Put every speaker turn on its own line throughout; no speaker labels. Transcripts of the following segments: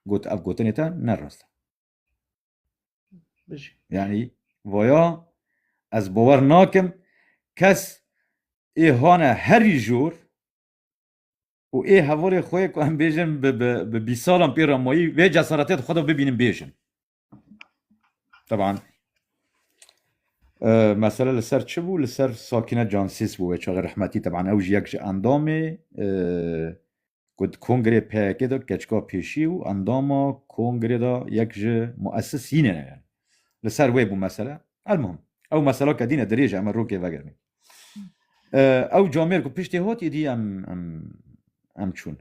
Got ev gotinê te ne rast e. Bijî. Yani voya ez bawer nakim kes ê hane herî jor û ê hevalê xwe yê ku em bêjin bi bîsalan pê re mayî vê cesaretê di xwe de bibînin bêjin. Teban mesele li ser çi bû li ser Sakîne Cansîs bû wê çaxê rehmetî teban ew ji yek ji endamê ku di kongrê PYK de keçka pêşî û endama kongrê de yek ji muesisînê ne yani li ser wê bû mesele elmuhim ew meseleke dîne dirêje em rokê vegirin Ew camêr ku piştê hot êdî em em em çûn.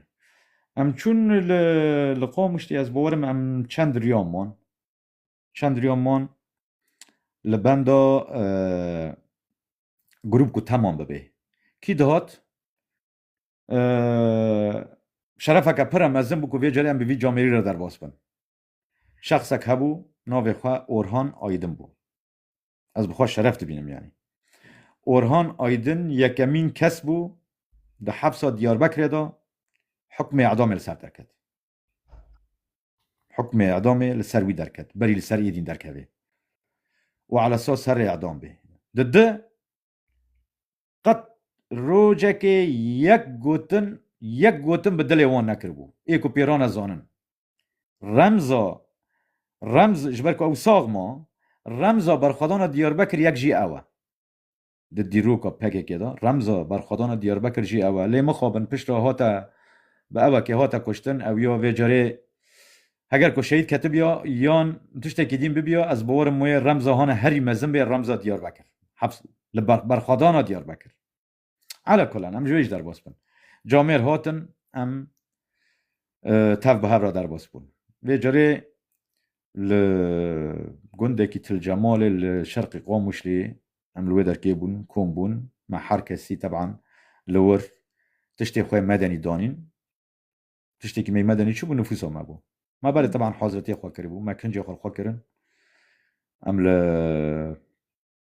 Em çûn li li Qamişlê ez borim em çend riyan man. Çend riyan man li benda grûp ku teman bibê. Kî dihat şerefeke pira mezin bû ku vê carê em bi vî camêrî re derbas bin. Şexsek hebû navê xwe Orhan Aydin bû. Ez bi xwe şeref dibînim yanî. Orhan Aydin yekemîn kes bû di hepsa Diyarbekirê de hukmê edamê li ser derket. Hukmê edamê li ser wî derket, berî li ser êdîn derkevê û ala esas serê edam bê. Di di qet rojekê yek gotin yek gotin bi dilê wan nekiribû. Ê ku pêra ne zanin. Remza remz ji ber ku ew sax ma, remza berxwedana Diyarbekir yek jî ew e. Di dîroka pkk de remza berxwedana Diyarbekir jî ew e. Lê mixabin pişt re hate bi ewekê hate kuştin, ew ya vê carê heger ku şehîd ketibiya yan tiştekî dîn bibiya ez bawerim wê remza hane herî mezin bê remza Diyarbekir. Heps li berxwedana Diyarbekir. Ala kulan em ji wê jî derbas bin. Camêr hatin em tev bi hev re derbas bûn. Vê carê li gundekî Til Cemalê li şerqê Qamuşlê em li wê derkê bûn, kom bûn, me her kesî teban li wir tiştê xwe medenî danîn. Tiştekî me medenî çi bû nifûsa me bû. Me berê teban hazretiyê xwe kiribû, me kincê xwe li xwe kirin. Em li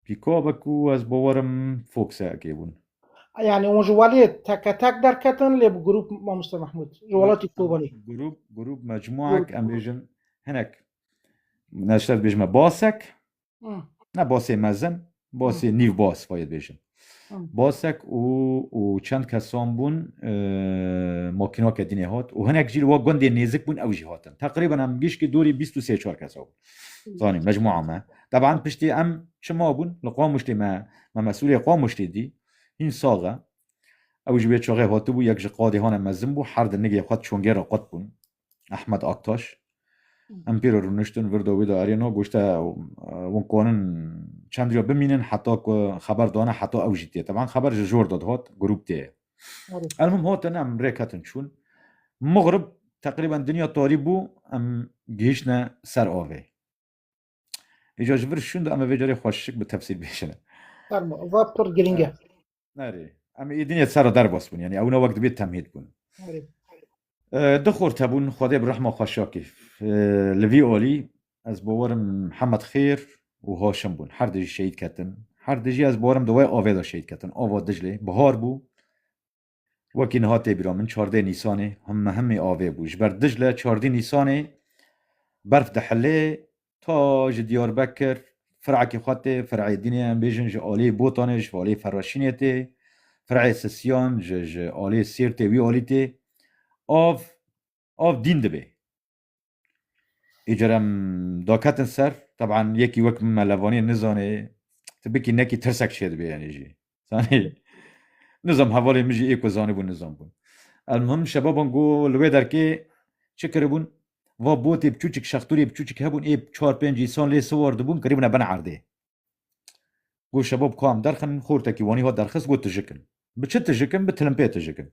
Pîko be ku ez bowerim Fox'e ekêbûn. Yani hûn ji weliyê teke tek derketin lê bi grûp Mamoste Mehmûd ji welatî Kobanî. Grûp, grûp, mecmuek em bêjin hinek neşter dibêjime basek. Ne basê mezin, basê nîv bas vayê dibêjin. Basek û û çend kesan bûn makînake dînê hat û hinek jî wa gundê nêzik bûn ew jî hatin. Teqrîben em gişkî dorî bîst û sê çar kesa bûn. zanî mecmua me teban piştî em çima bûn li Qamuştê me me mesulê Qamuştê dî hîn sax e ew ji wê çaxê hatibû yek ji qadê hane mezin bû her di nigê xwe çongê re qut bûn Ehmed Aktaş em pê re rûniştin vir da wê de erêno goşte wan kanin çend rîya bimînin heta ku xeber dane heta ew jî tê teban xeber ji jor de dihat grûp tê Elmim hotin em rêk hatin çûn. Mugrib teqrîben dinya tarî bû em gihişne ser avê. Îca ji vir şûn de em vê carê xweşik bi tefsîl bêjine. Va pir girîng e. Nerê. Em ê dinya ser derbas bûn. Yani ew ne wek dibê temhîd bûn. Du xort hebûn Xwedê bi rehma xwe şakê. Li vî alî ez bawar im Mihemed Xêr û Haşim bûn. Her du jî şehîd ketin. Her du jî ez bawar im di wê avê de şehîd ketin. Ava Diclê. Bihar bû. Wekî niha tê bîra min çardê Nîsanê himmi himmi avê bû. Ji ber Dicle çardî Nîsanê berf dihilê Ta ji Diyarbekir firekê xwe tê, fireyê Dînê em bêjin ji aliyê Botanê, ji aliyê Ferreşînê tê, fireyê Sisiyan ji ji aliyê Sêrtê wî alî tê. Av av dîn dibê. Îcar em daketin ser, teban yekî wek min me levaniye nizanê, tu bikî nekî tirsek çêdibê enê jî. Zanî nizam hevalê min jî ê ku zanibûn nizam bûn. Elmuhim şebaban ku li wê derkê çi kiribûn va botê biçûçik şextûrê biçûçik hebûn ê çar pênc însan lê siwar dibûn kirîbûne ben erdê. Got şebab ka em derxin xortekî wanî hat derxist got tijik in. Bi çi tijik in bi tilimpê tijik in.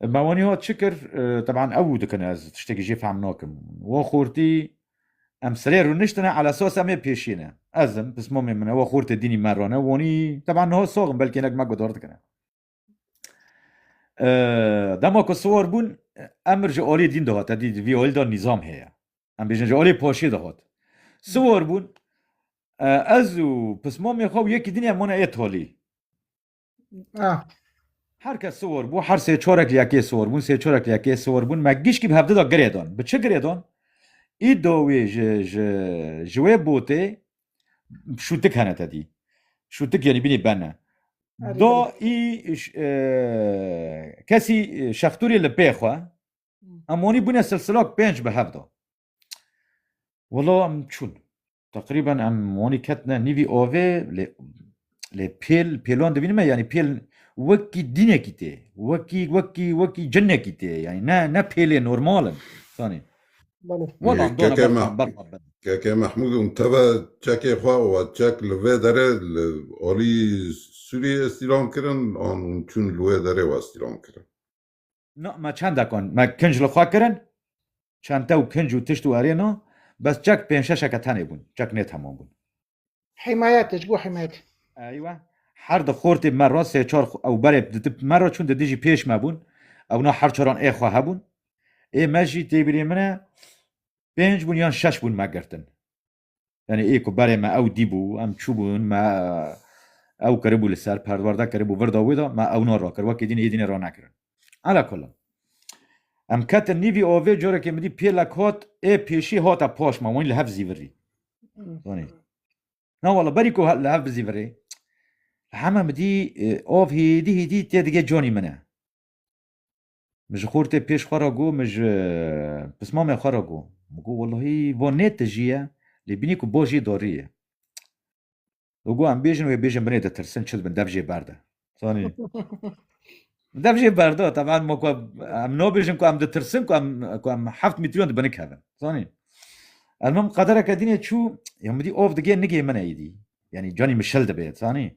Me waniye got çi kir? Teban ew û dikin ez tiştekî jê fehm nakim. We xortî em sirê rûniştine ala sosa me pêşîne. Ez im, pismamê min e, we xortê dînî me rane, wanî teban niha sax im, belkê hinek me guhdar dikine. Dema ku siwar bûn, emir ji aliyê dîn dihate, dî vî alî de nîzam heye. Em bêjin ji aliyê paşê dihat. Siwar bûn, ez û pismamê xwe û yekî dînê em wana ê talî. Ah. Her kes siwor bû, her sê çorek li yekê siwor bûn, sê çorek li yekê siwor bûn. Me gişkî bi hevdida girê dan. Bi çi girê dan? Îdo wê ji ji ji wê botê şûtik hene te dî. Şûtik yanî binî bene. Erî Do bile. î ş- e, kesî şextûrê li pê xwe em onî bûne silsilak pênc bi hevda. Wala em çûn. Teqrîben em wanî ketine nîvî avê lê lê pêl pêlan dibînim me yanî pêl wekî dînekî tê wekî wekî wekî cinekî tê yanî ne ne pêlê normal in sanî Welan dona berxan berxan ben. KK Mahmud um teve çekê xwe û çek li vê derê li alî Sûriyê îstîlam kirin an hûn çûn li wê derê westîlam kirin. No me çendekan me kinc li xwe kirin, çente û kinc û tişt û erê no, bes çek pênc şeşeke tenê bûn, çek nê temam bûn. Himayet, ji bo himayet. Eywe, her di xortê me re sê çar ew berê di tip me re çûn di dijî pêş me bûn, ew na her çaran ê xwe hebûn. Ê me jî têbîrê min e pênc bûn yan şeş bûn me girtin. Yanî ê ku berê me ew dîbû, em çûbûn, me ew kiribû li ser, perwarde kiribû vir da wê de, me ewna rakir, wekî dîn ê dînê ranekirin. Ala kullan. Em ketin nîvî avê carekê min dî pêlek hat, ê pêşî hate paş me, wanî li hev zîvirî. Zanî. Na wala berî ku li hev bizîvirê, heme min dî av hêdî hêdî tê dige canî min e. Min ji xortê pêş xwe re got, min ji pismamê xwe re got. Min got welahî va nê tijî ye, lê bînî ku bajê darî ye. Min got em bêjin wê bêjin binê ditirsin çi dibin dev jê berde. Zanî. Dev jê berda teban ma ku em nabêjin ku em ditirsin ku em ku em heft mîtriyon dibin kevin. Zanî. Elmim qedereke dînê çû ya min dî av digê nigê min êdî. Yanî canî min şil dibe zanî.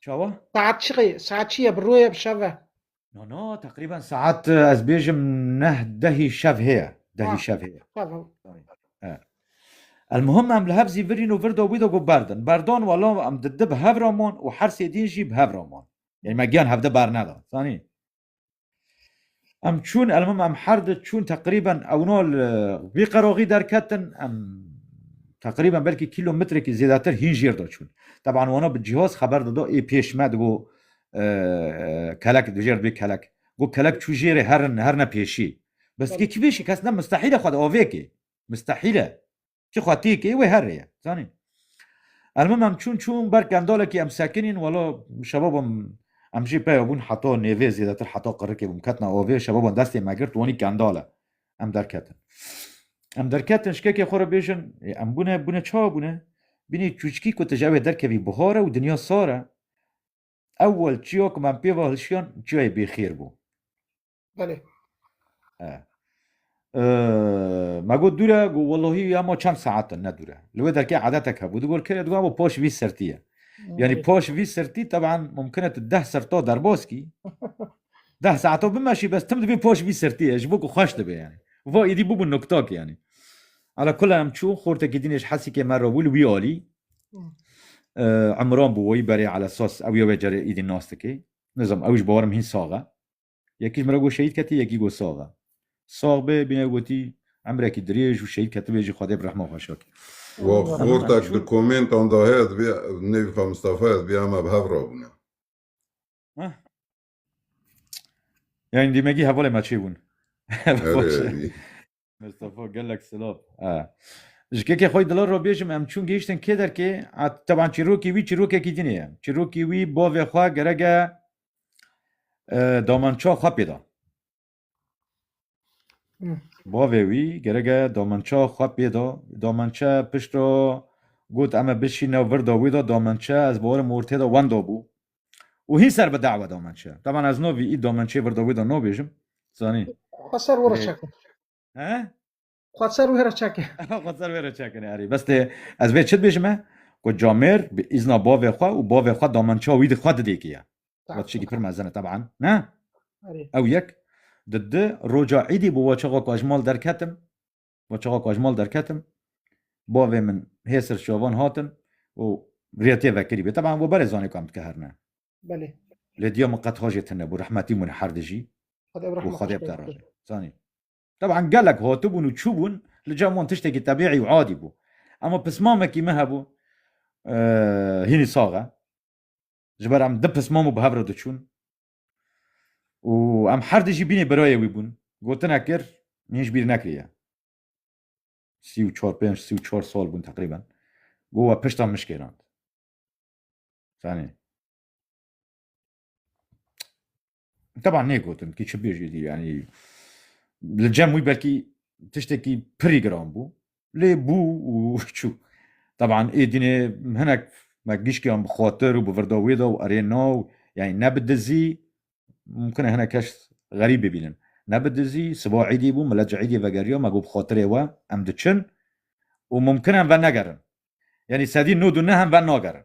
Çawa? Saet çi qe- saet çi ye bi rûye bi şeve. No no teqrîben saet e, ez bêjim neh dehî şev heye. Dehî Ah. şev heye. Şeve. Elmuhim em li hev zî virîn û vir do wî do got berdin. Berdon welo em di di bi hev re man û her sê din jî bi hev re man. Yanî me giyan hevde bernedan. Zanî? Em çûn elmim em her di çûn teqrîben ewno li vî qeroxî derketin em teqrîben belkî kîlometrekî zêdetir hîn jêr de çûn. Teban wano bi cîhoz xeber dido ê pêş me digo kelek dijêr dibê kelek. Got kelek çû jêrê herin her ne pêşî. Bes dikê kî pêşî kes ne mistehîl e xwe di avêkê. Mistehîl e. Çi xwetiyek ê wê her rê ye. Zanî. Elmim em çûn çûn ber kendalekî em sekinîn welo şebabim em jî peyo bûn heta nêvê zêdetir heta qirikê bûm ketina avê şebaban destê me girt wanî kendal e. Em derketin. Em derketin şikekê xwe re bêjin em bûne bûne ça bûne bînî çûçkî ku tu ji ew ê derkevî bihar e û dinya sar e. Ewel çiya ku me em pê ve hilşiyan çiyayê bêxêr bû. Belê. E. Ma got dûre got wellahî ya ma çend saet in ne dûre. Li wê derkê edetek hebû digot kê digot bo poş vî sertî ye. Yanî poş vî sertî teban mumkin e tu deh serto derbas kî. Deh saeto bimeşî bes tim dibê poş vî sertî ye ji bo ku xweş dibe yanî. Va êdî bûbû noktak yanî. Ala kula em çû xortekî dînê ji Hesikê me re bû li wî alî. Imran bû wayî berê ala sas ew ya wê carê êdî nas dikê. Nizam ew ji bawerim hîn sax e. Yekî ji min re got şehîd ketî, yekî got sax e. Sax be, bîne gotî emrekî dirêj û şehîd ketibê jî Xwedê bi rehma xwe şakê. Wa xortek di komentan de heye dibê nêvî xwe Mistefa ye dibê heme bi hev re bûne. Yanî dîmegî hevalê me çêbûn. Erê erî. Mustafa gelek silav. E. Ji kekê xwe dila re bêjim em çûn gihiştin kê derkê a teban çîrokê wî çîrokekî dinê ye. Çîrokê wî bavê xwe gerek e e, damança xwe pê da. Bavê wî gerek e damança xwe pê da. Damança pişta got em e bişîne vir da wê da damança ez bawerim ortê da wenda bû. û hîn ser bi dawa domençeya. Taban ez no vî î domençeyê vir da wê da nabêjim. Zanî. Xwe ser were çekin. He? Xwe ser were çekin. Xwe ser were çekin erî. Bes tê ez vê çi dibêjim e? Ku camêr bi îzna bavê xwe û bavê xwe domençeya wî di xwe didêkê ye. Wa tiştekî pir mezin e taban. Ne? Ew yek. Di di roja îdî bi waçaxa ku ez ji mal derketim Ba çaxa ku ez ji mal derketim bavê min hê ser çavan hatin û rê tê vekirîbê. Teban we berê zanê ku em dikiherine. Belê. Lê diya min qet ha jê tune bû. Rehmetî bûne her di jî. Xwedê ev rehma xwe bide rojê. Zanî. Teban gelek hatibûn û çûbûn li cem wan tiştekî tebîî û adî bû. Ema pismamekî me hebû hînî sax e. Ji ber em di pismam û bi hev re diçûn. û em her di jî bînê birayê wî bûn gotinek kir min ji bîr nekiriye sî û çar pênc sî û çar sal bûn teqrîben got we pişta min şkêrand fanê Teba nêgotin kî çi bêjî dî yanî li cem wî belkî tiştekî pirî giran bû Lê bû û çû. Teban êdînê hinek me gişkiyan bi xatir û bi virda wê de û erê na û yanî ne bi dizî mumkin e hinek kes xerîb bibînin. Ne bi dizî siba êdî bû milet ji êdî vegeriya me got bi xatirê we em diçin û mumkin e em venegerin. Yanî sedî nod û neh em venagerin.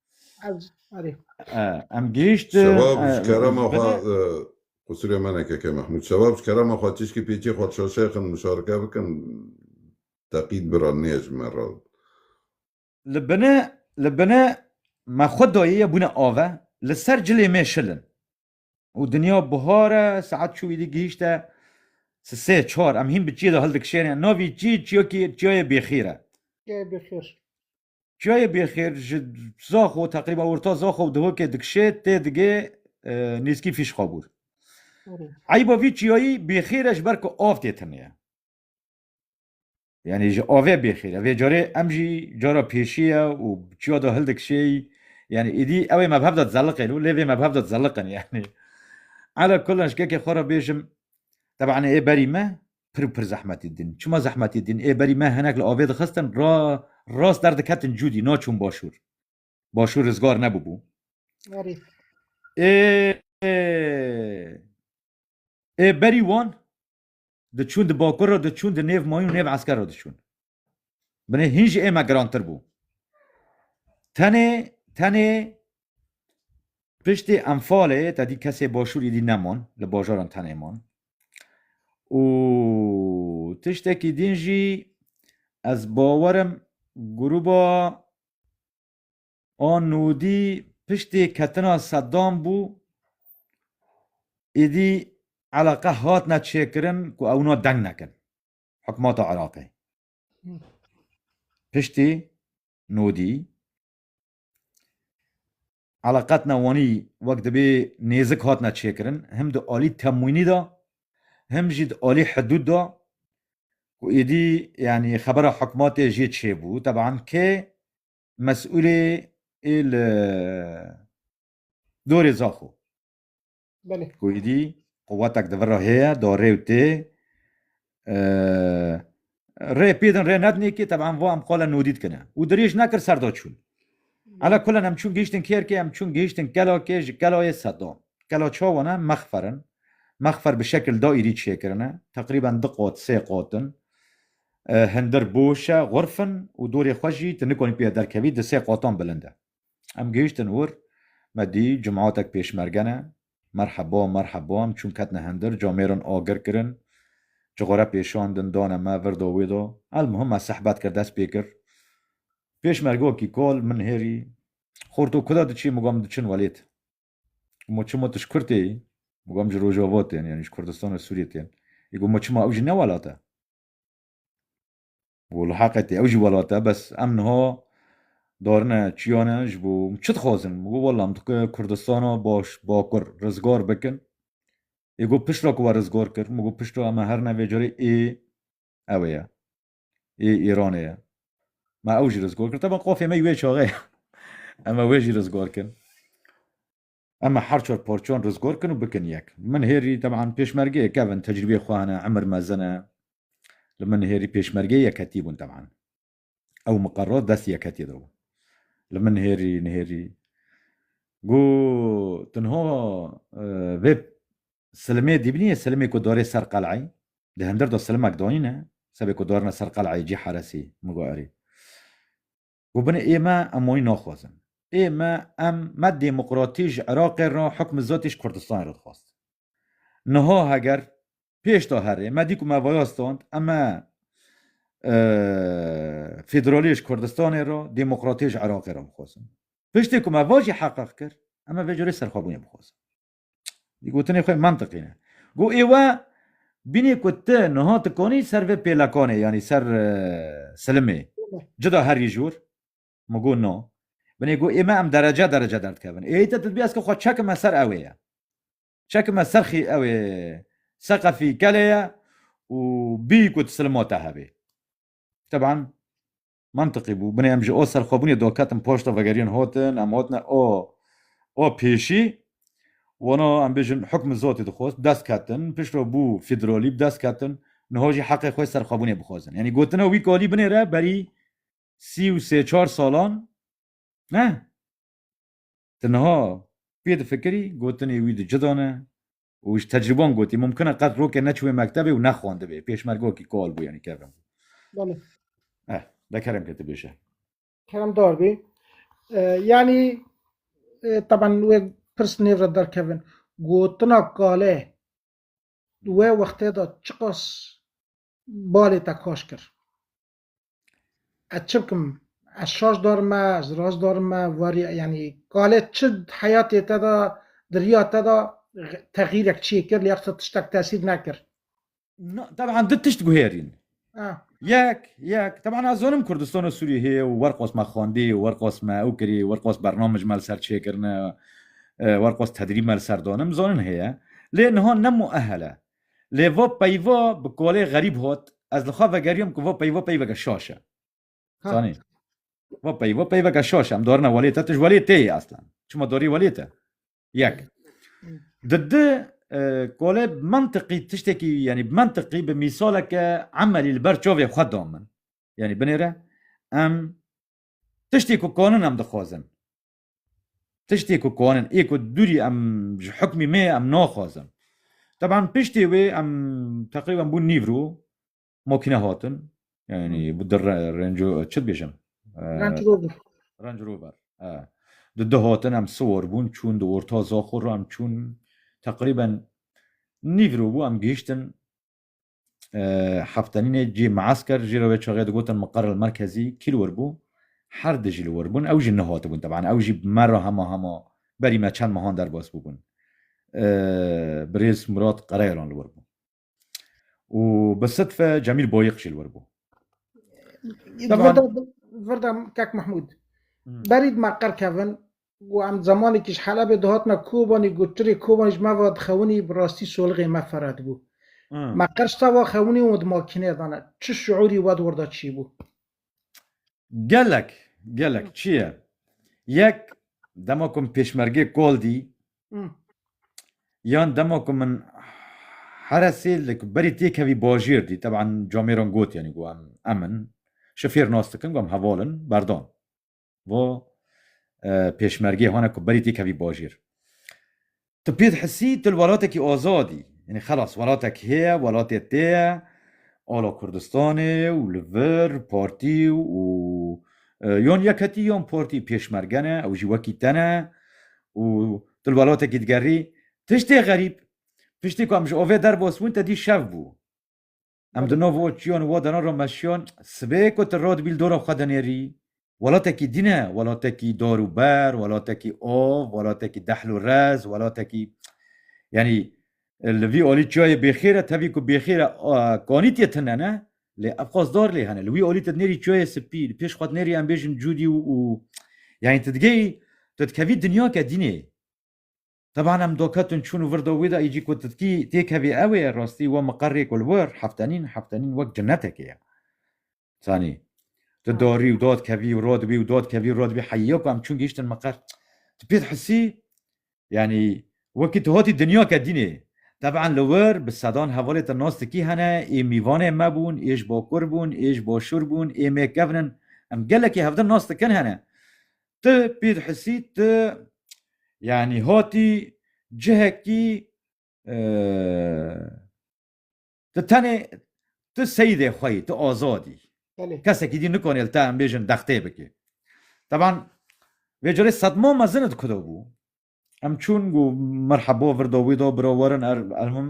Em gihişt Şebab ji kerema xwe qusirê me neke ke Mehmûd Şebab ji kerema xwe çişkî pêçî xwe şaşe xin muşareke bikin teqîd bi re nêje ji me re. Li bine li bine me xwe dayê ye bûne ave li ser cilê me şil in û dinya bihar e saet çû îdî gihişte si sê çar em hîn bi çiyê de hildikişêne navî çî çiyakî çiyayê bêxîr e. Çiyayê Bêxêr ji Zaxo teqrîba orta Zaxo û Dihokê dikişê tê digê nêzkî Fîşxabûr. Eyba vî çiyayî Bêxêr e ji ber ku av tê tune ye. Yanî ji avê Bêxêr e. Vê carê em jî cara pêşî ye û çiya de hildikişê yanî êdî ew ê mebhev de dizeliqên û lê vê mebhev de dizeliqin yanî. Ala kulan ji kekê xwe re bêjim teban ê berî me pir û pir zehmetê din. Çima zehmetê din? Ê berî me hinek li avê dixistin ra rast derdiketin cûdî naçûn başûr. Başûr rizgar nebûbû. Berî. Ê ê berî wan diçûn di bakur re diçûn di nêv mayîn û nêv esker re diçûn. Binê hîn ji ême girantir bû. Tenê tenê piştê enfalê te dî kesê başûrî dî nemon li bajaran tenê man. û tiştekî din jî ez bawerim grûba a nûdî piştê ketina Seddam bû êdî eleqe hatine çêkirin ku ewna deng nekin. Hikûmeta Iraqê piştî nodî eleqet newanî wek dibê nêzik hatine çêkirin him di alî temwînî de him jî di alî hidûd de ku êdî yanî xebera hikûmetê jê çêbû teban kê mesûlê ê li dorê zaxo Belê. Ku êdî quwetek di vir re heye, do rê û tê. Rê pêdin rê nedinê kê teban va em xwe li nodî dikine. Û dirêj nekir ser da çûn. Ala kulen em çûn gihiştin kêrkê, em çûn gihiştin kelakê, ji kelayê Sedam. Kela çawan e mexfer in. Mexfer bi şekil da êdî çêkirin e. Teqrîben di qat sê qat in. Hindir boş e, xurf in û dorê xwe jî tu nikanî pê ve derkevî di sê qatan bilind e. Em gihîştin wir, me dî cematek pêşmerge ne, merheba, merheba, em çûn ketine hindir, camêrin agir kirin, çixure pêşandin, dane me, vir do wê do. Elmuhim me sehbet kir, dest pê kir. Pêşmergokî kal min hêrî, Xor to kuda diçî? Min got, diçin welêt. Gomo çima tu ji Kurtê yî? Min got, ji Rojava tên, yanî ji Kurdistan û Sûriyê tên. Gomo çima ew jî ne welat e? Bo li heqê tê ew jî welat e bes em niha darine çiyan e ji bo çi dixwazin min got wela min dixwe Kurdistana baş bakur rizgar bikin ê got piştre ku we rizgar kir min got piştre em e her ne vê carê ê ewê ye ê Îranê ye me ew jî rizgar kir tevin qafiyê me yê wê çaxê ye em e wê jî rizgar kirin. Em ê her çar parçeyan rizgar kin û bikin yek. Min hêrî teban pêşmergeyê kevin tecrîbeyê xwe hene, emir mezin e. Li min hêrî pêşmergeyê yekhetî bûn teban. Ew miqerer dest yekhetiyê de bû. Li min hêrî nihêrî ku tenha vê silimê dîbinî yê silimê ku darê ser qeleyê. Di hindir de silimek danîne, sebê ku darine ser qeleyê cî heresî. Min got erê. Got binê ê me em wayî naxwazin. Ê me em me demokratî ji Iraqê re hukmê zatî ji Kurdistanê re dixwastin. Niha heger pêşda herê me dî ku me vaya stand em e federaliyê ji Kurdistanê re demokratiyê ji Iraqê re bixwazin. Piştê ku me va jî heqeq kir em e vê carê serxwebûnê bixwazin. Di gotinê xwe mantiqî ne. Go êwa bînê ku ti niha tu konî ser vê pêlekanê yanî ser silimê cida herî jûr min go na. Binê go ême em derece derece derdikevin. Êyî te tu dibî ez ki xwe çekime ser ewê ye. Çekime ser xî ewê seqefî kelê ye û bî ku tu silima te hebê. Teban Mantiqî bû. Binê em ji o serxwebûnê doketin poşta vegeriyên hotin, em hotine o o pêşî. Wano em bêjin hukmê zotê dixwest, bi dest ketin, piştre bû fîdrolî, bi dest ketin, niho jî heqê xwe serxwebûnê bixwezin. Yanî gotina wî kalî binê re berî sî û sê çar salan ne. Ti niha pê difikirî gotinê wî di cida ne, û ji tecrûban gotî mumkin e qet rokê neçûbê mektebê û nexwendibê. Pêşmergokî kol bû yanî kevin bû. Belê. Eh, de kerem ke tu bêje. Keremdar bî. Yanî teban wê pirs nêv re derkevin. Gotina kale di we wextê de çiqas balê te kaş kir? Ez çi bikim? Ez şaş dar me, ez rast dar me, varî yanî kalê çi heyatê te de di riya te de texîrek çiyê kir lê qisa tiştek tesîr nekir. Na, teban du tişt guhêrîn. Yek, yek, teban ez zonim Kurdistana Sûriyê heye û werqos me xwendî, werqos me ew kirî, werqos bernamij me li ser çêkirine, werqos tedrîb me li ser danim, zonin heye. Lê niha ne muehel e. Lê vo peyva bi kolê xerîb hot, ez li xwe vegeriyom ku vo peyva peyveke şaş e. Zanî? Vo peyva peyveke şaş e. Em dorine welê te, tu ji welê tê yê eslan. Çima dorî welê te? Yek. Di di kolê bi mentiqî tiştekî yanî bi mentiqî bi mîsaleke emelî li ber çavê xwe da min. Yanî binêre em tiştê ku kanin em dixwazin. Tiştê ku konin ê ku dûrî em ji hukmî me em naxwazin. Teban piştê wê em teqrîben bûn nîvro makîne hatin yanî bi di renco çi dibêjim Range Rover di di hatin em siwar bûn çûn di orta zaxo re em çûn teqrîben nîvro bû em gihiştin heftenînê cî meesker jî re wê çaxê digotin miqer li merkezî kî li wir bû her di jî li wir bûn ew jî nehatibûn teban ew jî me re hema hema berî me çend mehan derbas bûbûn birêz Murat Qereyalan li wir bû û bi sidfe Cemîl Boyiq jî li wir bû Virda Kek Mahmûd berî me qer kevin Got em zemanekî ji Helebê dihatina Kobanî, got çirê Kobanî ji me ve dixewinî bi rastî solixê me fere dibû. Me qirç tava xewinî û di makîneyê de ne. Çi şiûrî we di wir de çî bû? Gelek, gelek çi ye. Yek dema ku min pêşmergê kol dî yan dema ku min Heresê li ku berî têkevî bajêr dî, teban camêran got yanî got em em in. Şifêr nas dikin got em heval in, berdan. bo pêşmergê hane ku berî têkevî bajêr. Tu pê dihisî tu li welatekî azad î. Yanî xelas welatek heye, welatê te ye, ala Kurdistanê û li vir partî û yan yekhetî yan partî pêşmerge ne, ew jî wekî te ne û tu li welatekî digerî. Tiştê xerîb, piştî ku em ji avê derbas bûn te dî şev bû. Em di no vo çiyon vo dano ro meşiyon, sibê ku tu rod bîl dora xwe dinêrî, welatekî dî ne, welatekî dar û ber, welatekî av, welatekî dehl û rez, welatekî yanî li vî alî çiyayê bêxêr e, tevî ku bêxêr e kanîtiyê tune ne, lê ev xwest dar lê hene. Li wî alî tu dinêrî çiyayê sipî, li pêş xwe dinêrî em bêjin cûdî û yanî tu digehî tu dikevî dinyake dînê. Teban em doketin çûn û vir do wî de êcî ku titkî têkevî ew ê rastî we miqerê ku li wir heftenîn heftenîn wek cinnetekê ye. Zanî tu dorî û dod kevî û rodibî û dod kevî û rodibî heyî ku em çûn gihîştin miqer tu pê dihisî yanî wekî tu hatî dinyake dînê. Teban li wir bi sedan hevalê te nas dikî hene ê mîvanê me bûn ê ji bakur bûn ê ji başûr bûn ê mêkevin in em gelekî hevdin nas dikin hene Ti Pîr Hisî ti yanî hatî cihekî ti tenê ti seyîdê xwe yî, ti azad î. Kesekî dî nikanê li te em bêjin dextê bike. Teban vê carê sedma mezin di ku de bû. Em çûn got merheba vir da wî da bira werin er elmim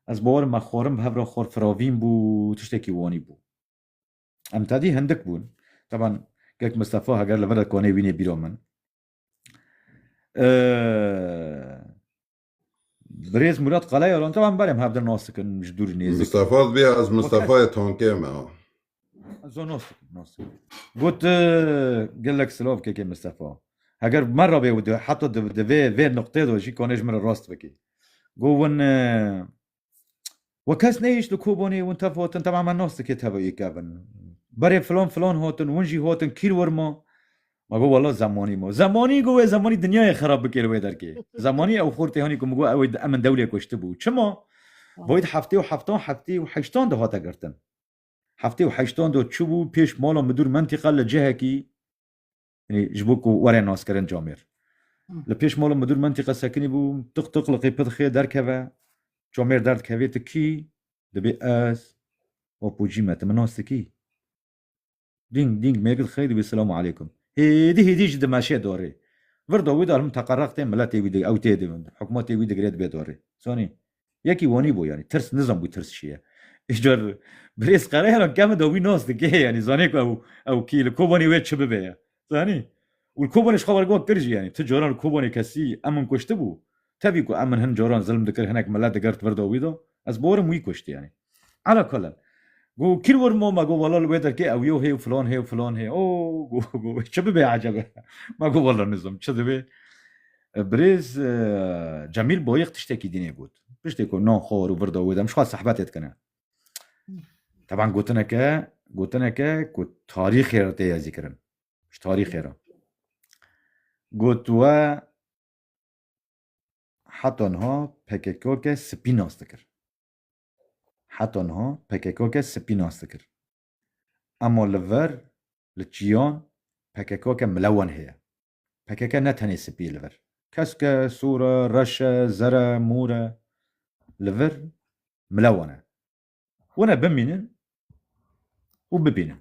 ez bawer me xwarin bi hev re xwar firavîn bû tiştekî wanî bû. Em tadî hindik bûn. Taban Kek Mistefa heger li vir e konê wînê bîro min. Birêz Murat Qaleya ron taban berem hevdin nas dikin ji dûr nêzik. Mistefa bê ez Mistefaya tankê me. Zo nas dikin nas. Got gelek silav kekê Mistefa. Heger me rabê û heta divê vê nuqtê do jî konê ji min re rast bikî. Got win وکس نهیشت li kobonê win tev hotin tev'a me nas dike tev yê kevin. Berê filan filan hatin win jî hatin kîr wir ma. Ma got wela zemanî ma. Zemanî got wê zemanî dinyayê xerab bike li wê derkê. Zemanî ew xor tê hanî ku min got ew ê min dewlê kuştibû. Çima? Bo êd heftê û heftan heftê û heştan de hate girtin. Heftê û heştan de çûbû pêş mala midûr mentîqa li cihekî Yanî ji bo ku were naskirin camêr. Li pêş mala midûr mentîqe sekinî bû, tiq tiq li qê pidxê derkeve, camêr derdikevê tu kî? Dibê ez Apocî me, tu min nas dikî? Dîng dîng mêgil xey dibê silam aleykum. Hêdî hêdî jî dimeşe darê. Vir da wê dar him teqereq tê miletê wî ew tê di hikûmetê wî digire dibê darê. Zanî Yekî wanî bû yanî tirs nizanbû tirs çi ye. Îcar Birêz Qereyana kevin de wî nas dike yanî zanê ku ew ew kî li Kobanê wê çi bibe ye. Zanî? Û li Kobanê ji xwe wergiwa kir jî yanî tu caran li Kobanê kesî em min kuştibû? Tevî ku em min hin caran zilm dikir hinek milet digert vir da wî da ez barim wî kuşt yanî. Ala kullin. Got kî li wir ma? Ma got wela li wê derkê ewyo heye û filan heye û filan heye. O got çi bibê eceb e. Ma got wela nizam çi dibê. Birêz Cemîl Boyix tiştekî din ê got. Piştê ku nan xwar û vir da wê de em ji xwe sehbetê dikine. Teban gotineke gotineke ku tarîxê re tê yezîkirin. Ji tarîxê re. Got we heta niha PKK ke spî nas dikir. Heta niha PKK'ke spî nas dikir. Ema li vir, li çiyan PKK'ke milewan heye. PKK ne tenê spî ye li vir. Kesk e, sor e, reş e, zer e, mor e. Li vir milewan e. Hûn ê bimînin û bibînin.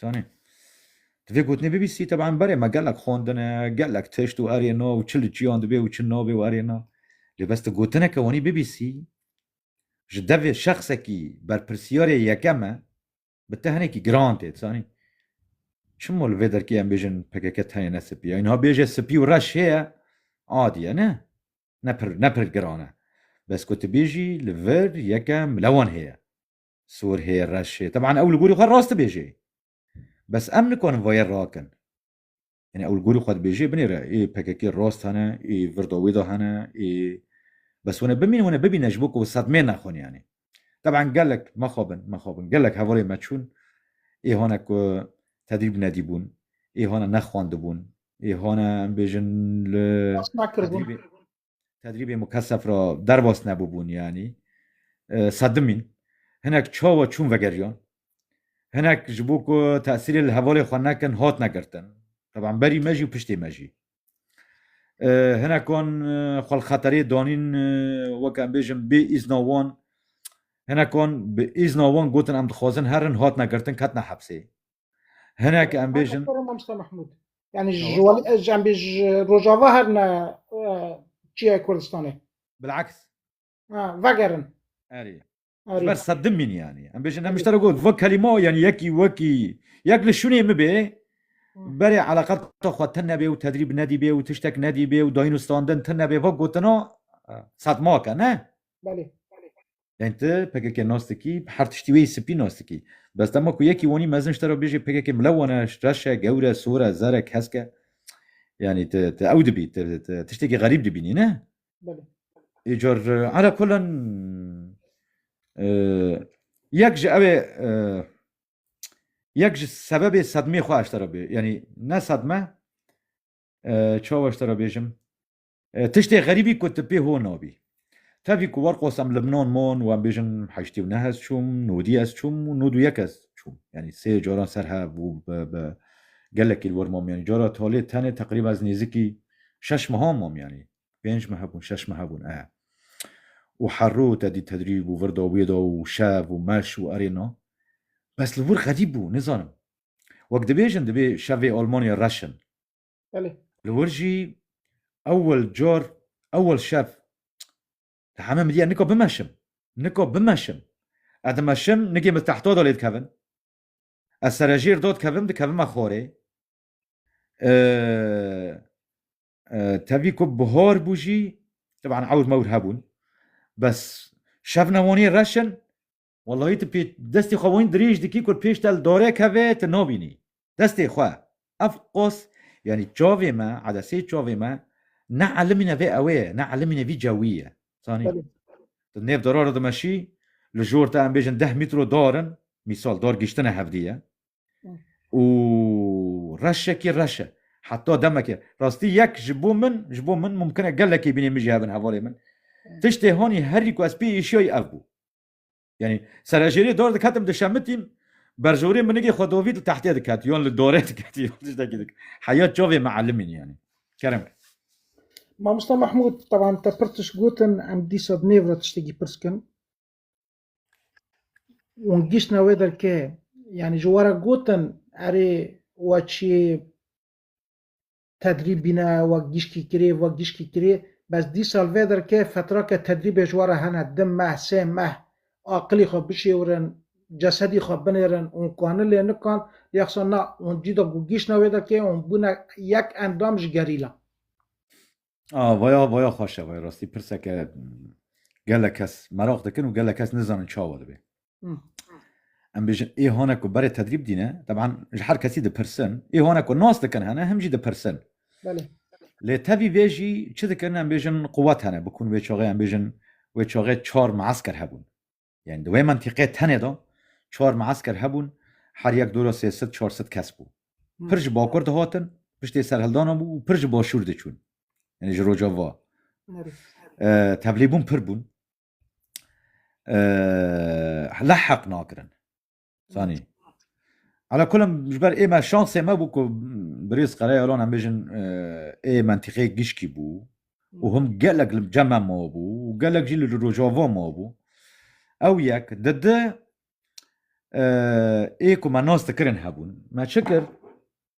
Zanî. Di vê gotinê bibîstî teban berê me gelek xwendine, gelek tişt û erê na û çi li çiyan dibê û çi nabê û erê na. Lê bes tu gotineke wanî bibîstî ji devê şexsekî berpirsiyarê yekem e bi te hinekî giran tê dizanî. Çima li vê derkê em bêjin pkk tenêne spî ye? Îniha bêje spî û reş heye adî ye ne? Ne pir ne pir giran e. Bes ku tu bêjî li vir yekem lewan heye. Sorhê reşê teban ew li gorî xwe rast dibêje. Bes em nikarin vayê rakin. Yanî ew li gorî xwe dibêje binê re ê pkk rast hene, ê virda wê de hene, ê bes hûn ê bimînin hûn ê bibîne ji bo ku sedmeyê nexwin yanî. Teban gelek mexabin mexabin gelek hevalên me çûn ê hane ku tedrîb nedîbûn, ê hane nexwendibûn, ê hane em bêjin li tedrîbê. tedrîbê mukesef ra derbas nebûbûn yanî sedimîn hinek çawa çûn vegeriyan hinek ji bo ku tesîrê li hevalê xwe nekin hatine girtin teban berî me jî û piştê me jî hinekan xwe li xeterê danîn wek em bêjin bê îzna wan hinekan bi îzna wan gotin em dixwazin herin hatine girtin ketina hepsê Hinek em bêjin Mamosta Mahmud. Yani ji em bêj rojava her ne çiye Kurdistanê. Bilaks. Vegerin. Erê. Ber sedim min yani. Em bêjin em iştara got ve kelîma yani yekî wekî yek li şûnê min bê berê eleqeta xwe te nebê û tedrîb nedîbê û tiştek nedîbê û dayîn û standin te nebê ve gotina setmake ne. Belê. Yani ti PKK nas dikî, bi her tiştî wê spî nas dikî. Bes dema ku yekî wanî mezin ji te re bêjê PKK mile wan e, reş e, gewr e, sor e, zer e, kesk e. Yani ti ti ew dibî, ti ti tiştekî xerîb dibînî ne? Belê. Îcar ala kulan yek ji ew ê yek ji sebebê sedmê xwe eştera bê. Yani ne sedme çawa eştera bêjim. Tiştê xerîbî ku ti pê ho nabî. Tevî ku war qos em Libnan man û em bêjin heştî û neh ez çûm, nodî ez çûm û nod û yek ez çûm. Yanî sê caran ser hev û bi gelekî li wir mam. Yanî cara talê tenê teqrîben ez nêzikî şeş mehan mam yanî. Pênc meh hebûn, şeş meh hebûn e. Û her roj te dî tedrîb û vir da wê da û şev û meş û erê na. Bes li wir xerîb bû, nizanim. Wek dibêjin divê şevê Almanya reş in. Belê. Li wir jî ewil car ewil şev di heme min diya nika bimeşim. Nika bimeşim. Ez dimeşim nikê min tehta da lê dikevin. Ez serejêr da dikevim dikevim me xwarê. Tevî ku bihar bû jî teban ewr mewr hebûn. Bes şev newaniyê reşin Wellahî tu pê destê xwe wîn dirêj dikî ku pêş te li darê keve tu nabînî destê xwe. Ev qas yanî çavê me edesê çavê me ne elimîne vê ewê ye ne elimîne vî cewî ye zanî. Tu nêv dara re dimeşî li jor te em bêjin deh mîtro dar in mîsal dar giştine hevdî ye û reşekî reş e heta demekê rastî yek ji bo min ji bo min mumkin e gelekî bînê min jî hebin hevalê min tiştê hanî herî ku ez pê êşiyayî ev bû. Yanî serejêrî dor diketim dişemitîm berjorê minigê xwe dovî li tehtê diket yon li dorê diket tiştekî dik heya çavê meelimîn yanî kerem. Mamosta Mahmud tevan te pir tişt gotin em dîsa di nêv re tiştekî pirs kin. Wan giştine wê derke yanî ji were gotin erê we çiyê Tedrîb bîne wek gîşkî kirê, wek gîşkî kirê. Bes dî sal vê derke fetra ke tedrîbê ji we re hene, di meh, sê meh aqilî xwe bişêwirin, cesedî xwe binêrin, hûn kani lê nikan, lê hisa na, hûn cîda ku gîştine wê derkê, hûn bûne yek endam ji gerîla. A, vaya, vaya xweş e, vay rastî pirseke gelek kes meraq dikin û gelek kes nizanin çawa dibê. Em bêjin ê hane ku berê tedrîb dîne teban ji her kesî dipirsin ê hane ku nas dikin hene him jî dipirsin lê tevî vê jî çi dikin em bêjin quwet hene bikun wê çaxê em bêjin wê çaxê çar mesker hebûn yani di wê mentiqê tenê de çar mesker hebûn her yek dora sê sid çar sid kes bû pir ji bakur dihatin piştê serhildana bû û pir ji başûr diçûn yani ji rojava tevlîbûn pir bûn leheq nakirin sanî Ala kulim ji ber ê me şansê me bû ku birêz Qereyalan em bêjin ê mentîqê gişkî bû û him gelek li cem me mabû û gelek jî li Rojava mabû. Ew yek di di ê ku me nas dikirin hebûn me çi kir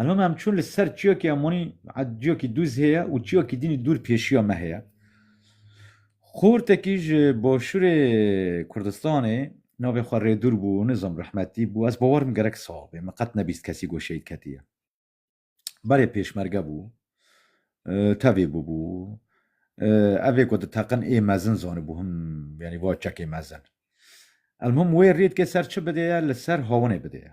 Elhom em çûn li ser çiyokê em wanî ciyokî dûz heye û çiyokî dînî dûr pêşiya me heye. Xortekî ji başûrê Kurdistanê navê xwe rêdûr bû nizam rehmetî bû ez bawerim gerek saxbê min qet nebîst kesî got şehîd ketiye. Berê pêşmerge bû tevê bûbû evê ku di teqin ê mezin zanibû him yanî va çekê mezin. Elmim wê rêdkê ser çi bidêye li ser hawinê bidêye.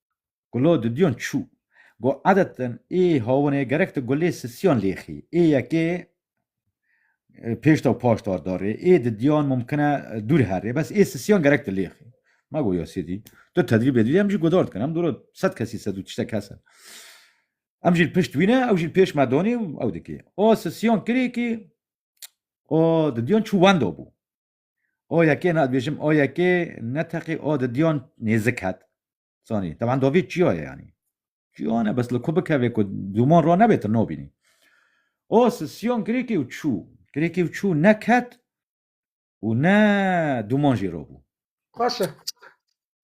Gulo didiyon çû. Go edeten ê hawinê gerek ti gulê sisiyan lêxî. Ê yekê pêşta û paşta darê. Ê didiyan mumkin e dûr herê. Bes ê sisiyan gerek ti lêxî. Ma go ya sêdî. Tu tedrîb lê didî. Em jî gudar dikin. Em dûra sed kesî sed û tiştek kes in. Em jî li pişt wî ne, ew jî li pêş me danê û ew dikê. A sisiyan kirê kî a didiyan çû wenda bû. O yekê na dibêjim o yekê ne teqî o di diyan nêzik het. Sanî teban dovî çiya ye yanî. Çiya ne bes li ku bikevê ku dûman ra nebê tu nabînî. O sisyon kirêkê û çû. Kirêkê û çû ne ket û ne dûman jî rabû. Baş e.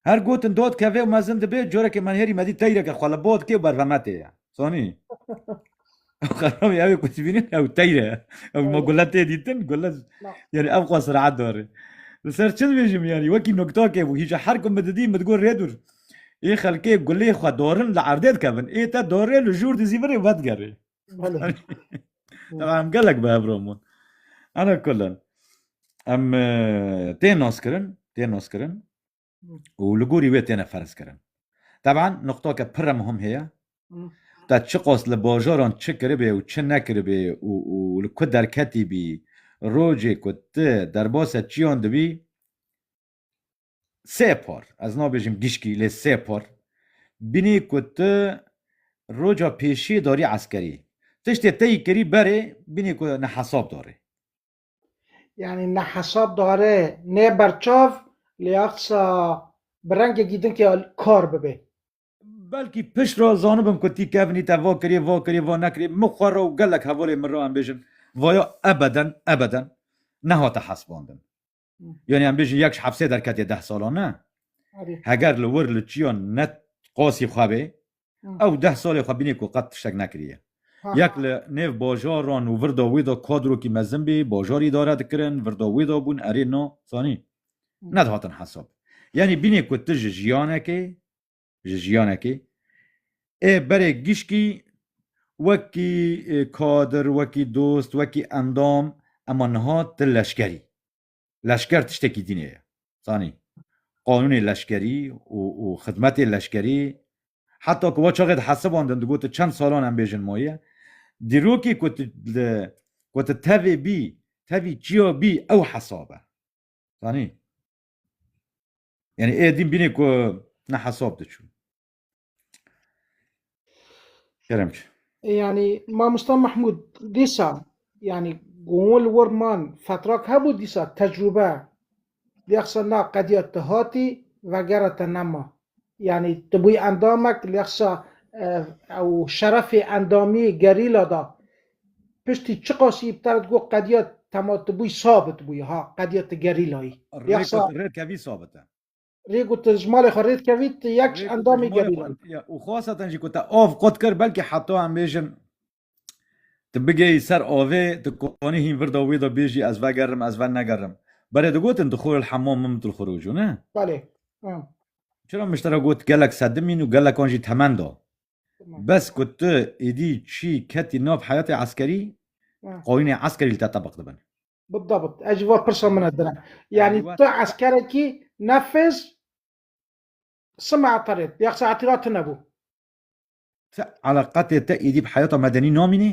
Her gotin dod kevê û mezin dibê, corekê menhêrî medî teyreke xwe li bo dikê û berveme tê ye. Sonî. Ew xeramî ew ê ku dibînin ew teyr e. Ew ma gule tê dîtin, gule yanî ev xwe sireet dare. Li ser çi dibêjim yanî wekî noktakê bû. Hîja her ku min didî min digot rê dûr. Ê xelkê gulê xwe dorin li erdê dikevin. Ê te dorê li jûr dizîvirê vedigerê. Em gelek bi hevro bûn. Ana kullin. Em tê naskirin, tê naskirin û li gorî wê têne ferzkirin. Teban nuqtake pire muhim heye. Te çi qas li bajaran çi kiribê û çi nekiribê û û li ku derketî bî, rojê ku tu derbasa çiyan dibî, Sê par, ez nabêjim gişkî lê sê par bînî ku tu roca pêşî darî eskerî. Tiştê te yî kirî berê bînî ku ne hesab darê. Yanî ne hesab darê nê berçav lê ya qisa bi rengekî din ke kar bibê. Belkî pişt re zanibim ku tî kevnî te va kirî va kirî va nekirî min xwe re û gelek hevalên min re em bêjin vaya ebeden ebeden nehate hesbandin. Yonê em bêjî yek ji hepsê derketiye deh salan ne. Heger li wir li çiyan ne qasî xwe bê ew deh salê xwe bînê ku qet tiştek nekiriye. Yek li nêv bajaran û virda wê de kadrokî mezin bê, bajar îdare dikirin, virda wê de bûn erê na zanî nedihatin hesab. Yanî bînê ku tu ji jiyanekê ji jiyanekê. Ê berê gişkî wekî kadir, wekî dost, wekî endam ema niha ti leşkerî. Leşker tiştekî dînê ye. Zanî qanûnê leşkerî û xidmetê leşkerî heta ku we çaxê dihesibandin digotin çend salan em bêjin maye. Dîrokê ku tu li ku tu tevê bî, tevî çiya bî ew hesab e. Zanî? Yani e din bine ku ne hesap diçû. Kerem çi? Yani Mamosta Mahmud dîsa yani gon li wir man fetrak hebû dîsa tecrûbe lexsa na qediya tu hatî vegera te nema. Yani tu bûyî endamek lexsa ew şerefê endamiyê gerîla da Piştî çiqas îptal dikî ku qediya tema tu bûyî sabit bûyî ha qediya tu gerîlayî. Rê ku tu rê dikevî sabit e. Rê ku tu ji malê xwe rê dikevî tu yek ji endamê gerîlayî. Û xwesa te jî ku te av qut kir belkî heta em bêjin tu bigeyî ser avê tu konî hîn virda wê de bêjî ez vegerim ez venegerim. Berê digotin dukhul elhemam min mitl xurûcû ne? Belê. Çira miştera got gelek sedimîn û gelekan jî temen da. Bes ku tu êdî çî ketî nav heyatê eskerî, qanûnê eskerî li te tebiq dibin. Bidabit, ev jî va pirsa min e din e. Yanî tu eskerekî nefêz sima eterê ya saetî ra tune bû. Ti eleqetê te êdî bi heyata medenî namînî?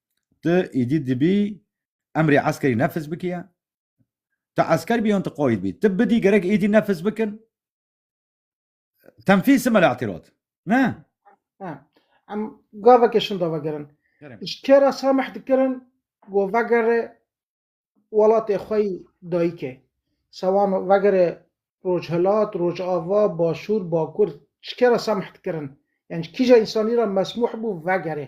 Tu îdî dibî emrê eskerî nefis bikiye. Tu esker bî yon tu qayîd bî. Tu bidî gerek îdî nefis bikin. Tenfîz sime li îtîrad. Ne? Ha. Em gavekê şinda vegerin. Ji kê re samih dikirin ku vegere welatê xwe yî dayîkê. Sewan vegere Rojhilat, Rojava, Başûr, Bakur. Ji kê re samih dikirin? Yan ji kîjan însanî re mesmûh bû vegere?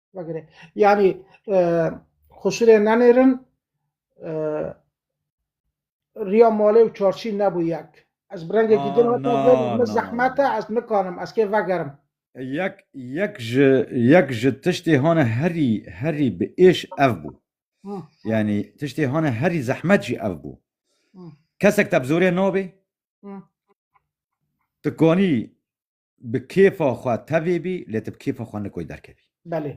Vegere. Yani e, xuşirê nenêrin e, riya malê û çarçî nebû yek. Ez bi rengekî din Ah, hata na, vê na, min na, zehmet e na. ez nikarim ez kê vegerim. Yek yek ji yek ji tiştê hane herî herî bi êş ev bû. Hı. Yani tiştê hane herî zehmet jî ev bû. Hı. Kesek te bi zorê nabê. Hı. Dikanî Bi kêfa xwe tevê bî lê tu bi kêfa xwe nikoy derkevî. Belê.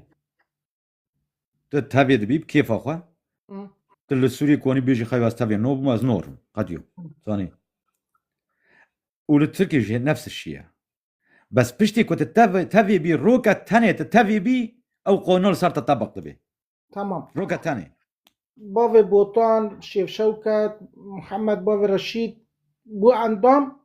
Tu tevê dibî bi kêfa xwe. Tu li Sûriyê konî bêjî xeyo ez tevê no bûm ez norim. Qediyo. Zanî. Û li Tirkiyê jî nefs şî ye. Bes piştî ku tu tevê bî roke tenê tu tevê bî ew qanûna li ser te tebik dibê. Tamam. Roke tenê. Bavê Botan, Şêf Şewket, Mihemed Bavê Reşîd bû endam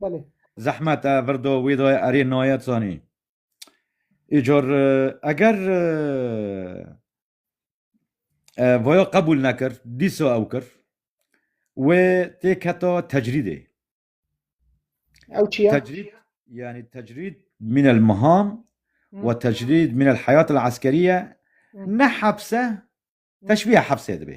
Belê. Zehmet e vir do wîdoyê erê nayet zanî. Îcor eger voya qebûl nekir, dîsa ew kir wê tê keta tecrîdê. Ew çi ye? Tecrîd yani tecrîd min el miham ve tecrîd min el heyat el eskeriye ne hepse teşbîhe hepsê dibê.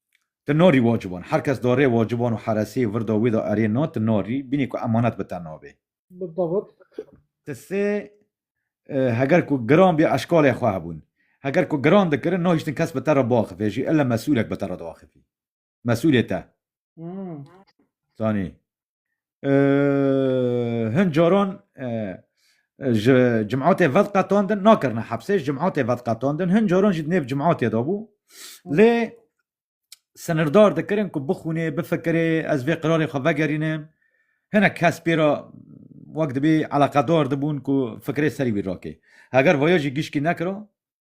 Ti norî waciban. Her kes darê waciban û heresî virda wî de erê na, ti narî, bînî ku emanet bi te nabê. Bidewt. Ti sê heger ku giran bî eşkalê xwe hebûn. Heger ku giran dikirin, nahiştin kes bi te re biaxivê jî, ille mesûlek bi te re diaxivî. Mesûlê te. Zanî. hin caran ji cimatê vedqetandin nakirine hepsê ji cimatê vedqetandin hin caran jî nêv cimatê de bû lê sinirdar dikirin ku bixûnê bifikirê ez vê qirarê xwe vegerînim hinek kes pê re wek dibê eleqedar dibûn ku fikirê serî wî rakê heger vaya jî gişkî nekira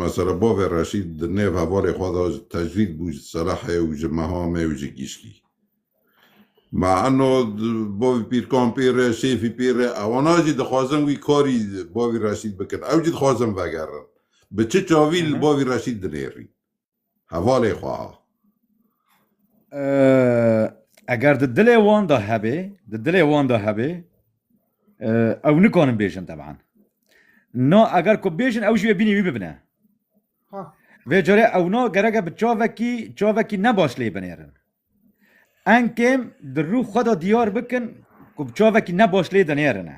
Mesela bavê Reşîd di nêv hevalê xwe de ji tecrîd bû ji Selehê û ji Mehamê û ji Gîşkî. Ma eno bavê Pîrkampîr e, Şêfî Pîr e, ewana jî dixwazin wî karî bavê Reşîd bikin. Ew jî dixwazin vegerin. Bi çi çavî li bavê Reşîd dinêrîn? Hevalê xwe ha. Eger di dilê wan de hebê, di dilê wan de hebê, ew nikarin bêjin teban. Na eger ku bêjin ew jî wê bînî wî bibine. Vê carê ew na gereke bi çavekî çavekî ne baş lê binêrin. Enkêm di rû xwe de diyar bikin ku bi çavekî ne baş lê dinêrine.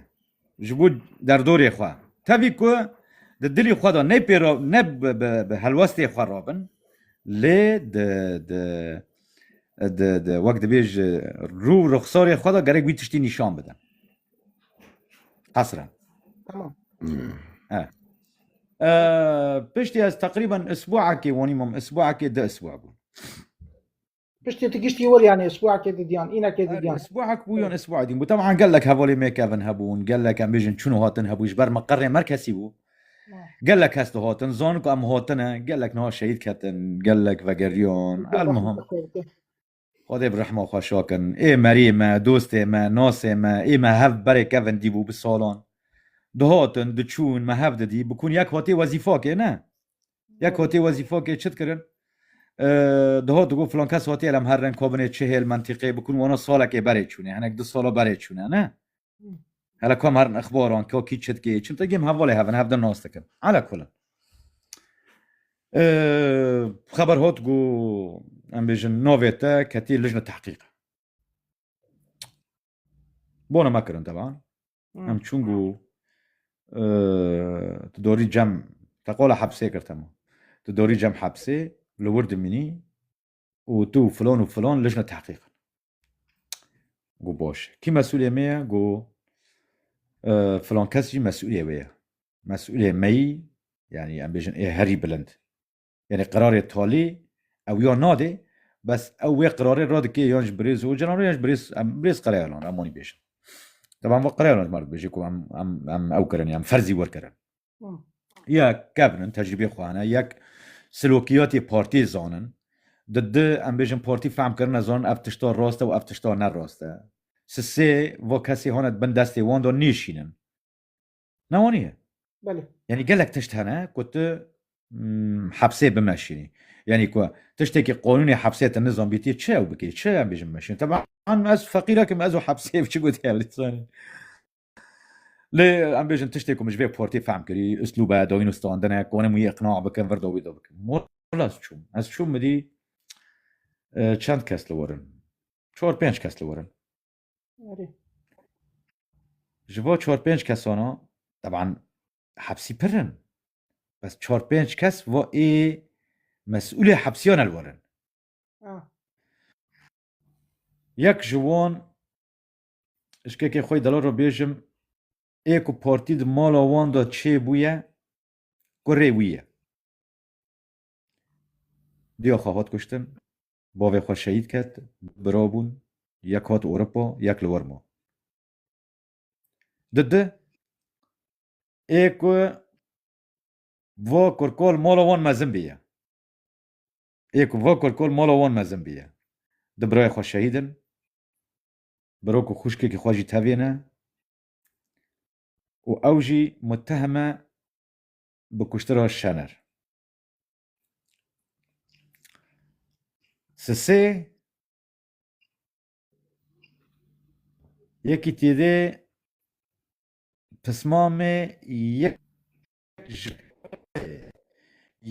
Ji bo derdorê xwe. Tevî ku di dilî xwe de ne pêro ne bi helwestê xwe rabin lê di di di di wek dibê ji rû û ruxsarê xwe de gerek wî tiştî nîşan bidin. Qesre. Tamam. He. Piştî ez teqrîben isbuekê wanî mam isbuekê di isbuek bûn. Piştî tu giştî wir yanê sibûhekê didiyan, înekê didiyan. Sibûhek bû yan sibûhê din bû. Teban gelek hevalê me kevin hebûn, gelek em bêjin çûn û hatin hebû ji ber me qerê me kesî bû. Gelek kes dihatin, zanin ku em hatine, gelek niha şehîd ketin, gelek vegeriyan. Elmuhim. Xwedê bi rehma xwe şakin. Ê meriyê me, dostê me, nasê me, ê me hev berê kevin dîbû bi salan. Dihatin, diçûn, me hev didî. Bikûn yek hatê wezîfakê ne. Yek hotê wezîfokê çi dikirin? Diho digo filan kes hotê elem her reng kobinê çi hêl mentîqê bikin wano salekê berê çûnê hinek du sala berê çûne ne? Hele kom herin ixbaran ka kî çi dikê çim te gêm hevalê hevin hev de nas dikin. Ala kulin. Xeber hot gu em bêjin navê te ketî lijne tehqîq. Bona me kirin teban. Em çûn ku tu dorî cem te qola hepsê kir tema. Tu dorî cem hepsê li wir dimînî û tu filon û filon lijne tehqîqin. Gu boş. Kî mesulê me ye gu filon kes jî mesulê wê ye. Mesulê meyî yani em bêjin ê herî bilind. Yanî qerarê talî ew ya nadê bes ew wê qerarê radike yan ji birêz Ocalan re yan ji birêz em birêz Qerayalan re em wanî bêjin. Teban va Qerayalan ji me re dibêje ku em em em ew kirin em ferzî werkirin. Yek kevnin tecrîbê xwe hene yek silokiyatê partiyê zanin di di em bêjin partî fehm kirine zanin ev tişta rast e û ev tişta ne rast e. Sisê va kesê hane di bin destê wan de nêşînin. Ne wan ye. Belê. Yanî gelek tişt hene ku tu hepsê bimeşînî. Yanî ku tiştekî qonûnê hepsê te nizanbîtî çi ew bikê, çi em bêjin bimeşîn. Teban ez feqîrekim ez û hepsê çi gotî ew lê zanî. Lê em bêjin tiştê ku min ji vê portê fehm kirî, uslûbe, dawîn û standine, konim wî iqna bikim, vir do wî do bikim. Mola ez çûm. Ez çûm midî çend kes li werin. Çar pênc kes li werin. Ji bo çar pênc kesana teban hepsî pir in bes çar pênc kes va ê mesûlê hepsiyan el werin. Yek ji wan ji kekê xwe delal re bêjim ê ku partî di mala wan de çêbûye kurê wî ye. Diya xwe hat kuştin Bavê xwe şehîd ket, du bira bûn, yek hat Ewropa, yek li wir ma. Di di ê ku va kurkal mala wan mezin bîye, ê ku va kurkal mala wan mezin bîye, du birayê xwe şehîd in, bira ku xwişkekî xwe jî tevê ne û ew jî muteheme bi kuştira Şener. Sisê yekî tîrê pismamê yek ji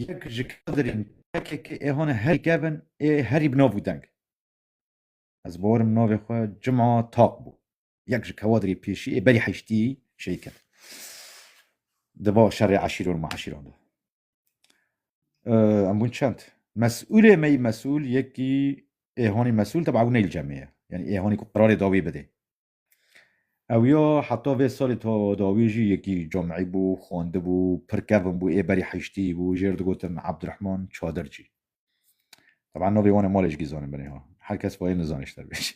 yek ji kadirên PKK ê hone herî kevin ê herî bi nav û deng. Ez borim navê xwe Cuma Taq bû. Yek ji kewadirê pêşî ê berî heştî şehîd ket. Di va şerê eşîro û meşîran de. Em bûn çend. Mesûlê me yî mesûl yekî êhonî mesûl teba ew neyl cemê ye. Yani êhonî ku qerarê dawî bidê. Ew ya heta vê salê ta dawî jî yekî camî bû, xwendibû, pir kevin bû, ê berî heyştî bû, jê re digotin Abdurehman Çadircî. Teba navê wan ê malê jikî zanibin êha. Her kes bayê nizane ji te bê jî.